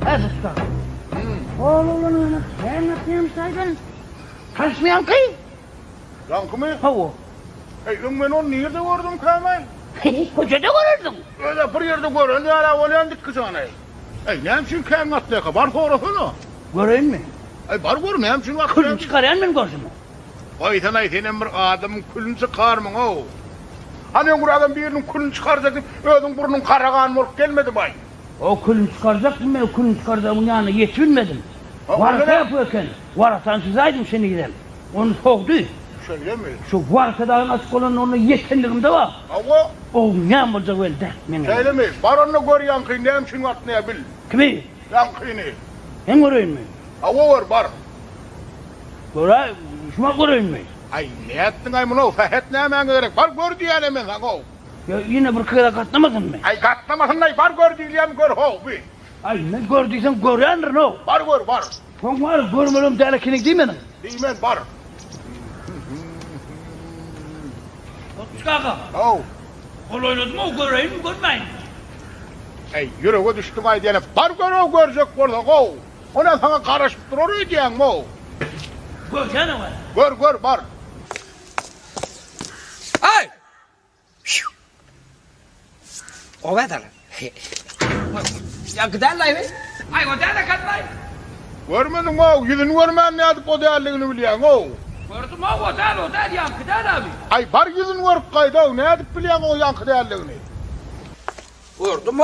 Äpetde. Ol oglan öňe kän gatnaýan şaýdan. Tanyşmaýanky? Ýaňkymy? Hawa. Heý, öň men ony nirde gördüm kämän? Köçede görersiň. Öl-ä bir ýerde gören ýal-ä bolýan dikgi jany. Heý, näme üçin kän gatnaýarka? Bar sorasana. Göreýinmi? Heý, bar gör, näme üçin gatnaýar? Külüni çykarýan men görşüme. Goýsana-aý, senem bir adamyň külüni çykarmyň-ow. Hany öňrägem biriniň külüni çykarjak diýip, özüň burnuň karagan bolup gelmedibaý? O külüni çykarjakmy men o külüni çykarjagyň ýanyna ýetibilmedim. Warasa ýapyk eken. Warasany çyzaýdym şenizem. Ony sogdy. Şeýlemi? Şu warasa dagyň açyk bolanda onda ýetenligimde bar. Hawa. Oň näme boljagy belli däl. Meňem. Şeýlemi? Baranda gör ýaňky näme üçin bardy näme bil. Kimi? Ýaňkyny. Hem göreýinmi? Hawa gör bar. Göräý, şumat göreýinmi? Aý nätdiňaý muny-ow? Sähet nämäňe gerek? Bar gör diýýän-ä men saňa-ow. Ýa ýene birki gezek gatnamasynmy? Aý, gatnamasyn-laý, bar gör diýilýämi, gör, how, bi. Aý, indi gör diýseň görýändirin-how. Bar gör, bar. Soň wara, görmelem däl ekeniň diý meniň. Diýmen, bar. Otmyş kaka. How. Hol oýnadym-ow, göreýinmi, görmäýinmi? Aý, ýürege düşdüň-aý diýene, bar gör-ow, görjek bolsaň-how. Onam saňa garaşyp durar öýdýäňmi-ow? Görýän-ow hä. Gör, gör, bar. Aý! Görmediňow, ýüzüni görmän nädip o däldigini bilýäňow? Gördümow, o däl, o däl, ýaňky däl amy. Aý, bar ýüzüni görüp gaýdaw, nädip bilýäňow ýaňky däldigini? Gördümow,